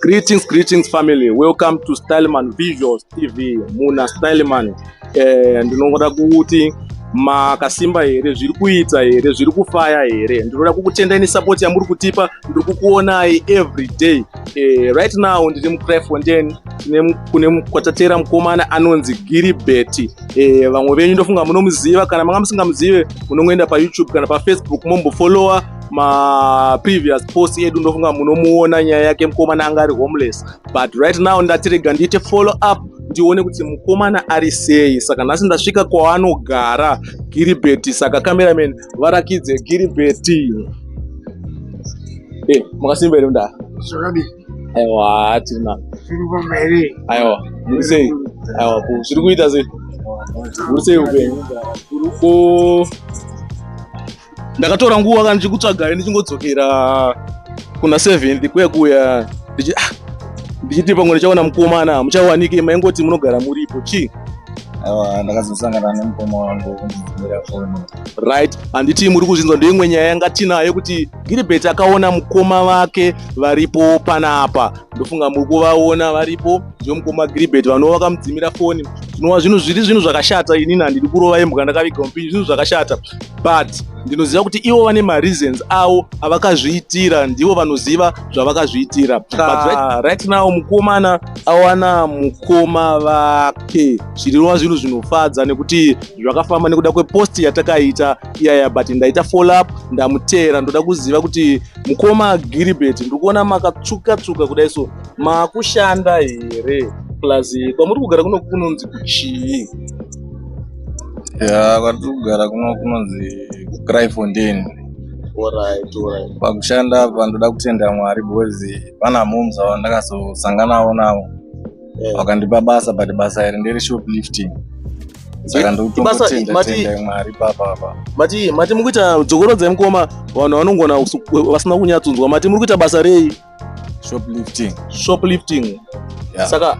Greetings, greetings family. Welcome to Styleman Visuals TV. Muna Styleman. Eh, ndinoda kuti makasimba here zviri kuita here zviri kufaya here ndinoda kukutendai nesupport yamuri kutipa ndiri kukuonai every day eh, right now ndiri mucryfontain kune kwatatera mukomana anonzi giribeti eh, vamwe venyu ndofunga munomuziva kana manga musingamuzive munongoenda payoutube kana pafacebook mombofollowa ma previous post edu ndofunga munomuona nyaya yake mukomana anga ari homeless but right now ndatirega ndiite follow up ndione kuti mukomana ari sei saka nhasi ndasvika kwaanogara giribeti saka cameraman varakidze giribeti eh, makasimba here mndaa aiwa tirina aiwa muri sei aiwa zviri kuita sei muri sei upenyu ndakatora nguva kana ndichikutsvagai ndichingodzokera kuna seventh kuya kuya ndichi ah, ndichiti pamwe ndichaona mukomana muchawanike maingoti munogara muripo chii aiwa ndakazosangana nemukoma wangu kundidzimira foni right handiti muri kuzvinzwa ndeimwe nyaya yanga tinayo kuti gilibert akaona mukoma vake varipo panapa ndofunga muri kuvaona varipo ndivo mukoma gilibert vanova vakamudzimira foni zvinova zvinhu zviri zvinhu zvakashata inini handidi kurova imbwa ndakaviga mupinyi zvinhu zvakashata but ndinoziva kuti ivo vane mareasons avo avakazviitira ndivo vanoziva zvavakazviitira but ah. right now mukomana awana mukoma vake zvirirwa zvinhu zvinofadza nekuti zvakafamba nekuda kwepost yatakaita iyaya but ndaita follow up ndamuteera ndoda kuziva kuti mukoma giribet ndiri kuona makatsvuka tsvuka kudai so makushanda here plus kwamuri kugara kuno kunonzi kuchii Yeah, kwatiri kugara kuno kunonzi Kraifondin. Alright, alright. Pakushanda apa ndoda kutenda Mwari because pana moms avo ndakazosanganawo navo Yeah. vakandipa basa but basa iri ndere shoplifting saka Ibasa- ndokutongotenda mati- tenda Mwari papa apa. Mati mati muri kuita dzokorodzai mukoma vanhu vanongona kusu- vasina kunyatsonzwa mati muri kuita basa rei? shoplifting shoplifting yeah. saka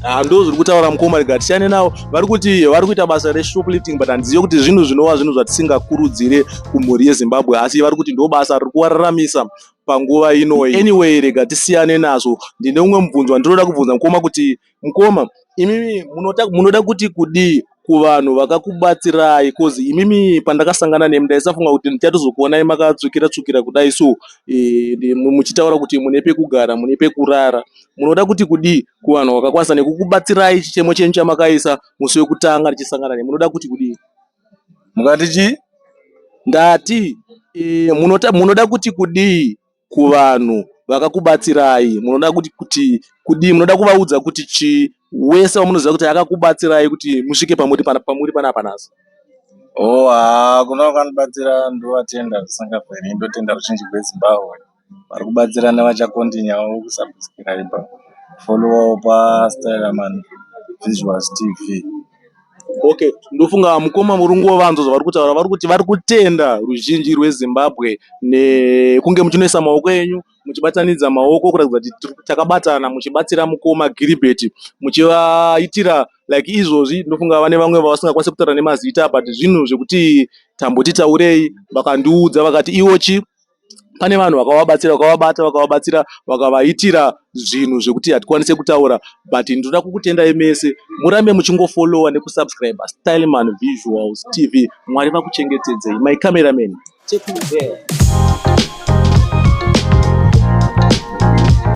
ah, ndo zviri kutaura mukoma rega tisiyane navo vari kuti vari kuita basa reshoplifting but handizive kuti zvinhu zvinova zvinhu zvatisingakurudzire kumhuri yezimbabwe asi vari kuti ndo basa riri kuvararamisa panguva inoyi anyway rega tisiyane nazvo ndine umwe mubvunzo wandinoda kubvunza mukoma kuti Mkoma imimi munota, munoda kuti kudii kuvanhu vakakubatsirai cause imimi pandakasangana nemi ndaisafunga kuti ndichatozokuonai makatsvukira tsvukira kudai so eh, ndi- mu- muchitaura kuti mune pekugara mune pekurara munoda kuti kudii kuvanhu vakakwanisa nekukubatsirai chichemo chenyu chamakaisa musi wekutanga tichisangana nemi munoda kuti kudii mukati chii ndati eh, munota, munoda kuti kudii kuvanhu vakakubatsirai munoda kuti kuti kudii munoda kuvaudza kuti chii wese wamunoziva kuti akakubatsirai kuti musvike pamuri pana- pamuri panapa nhasi Oh, haa, kuna vakanibatsira ndovatenda zvisingaperi ndotenda ruzhinji rwezimbabwe vari kubatsira nevachakontinyawo kusubscribe followawo pasteraman visuals tv Okay, ndofunga mukoma murungu vanzwa zvavari kutaura vari kuti vari kutenda ruzhinji rweZimbabwe nekunge muchinoisa maoko enyu muchibatanidza maoko kuratidza kuti takabatana muchibatsira mukoma Gilbert muchivaitira like izvozvi ndofunga vane vamwe vavasingakwanisi kutaura nemazita but zvinhu zvekuti tamboti taurei vakandiudza vakati iwo chi pane vanhu vakavabatsira vakavabata vakavabatsira vakavaitira zvinhu zvekuti hatikwanise kutaura but ndinoda kukutendai mese murambe muchingofollowa nekusubscribe styleman visuals tv mwari vakuchengetedzei my cameraman take me there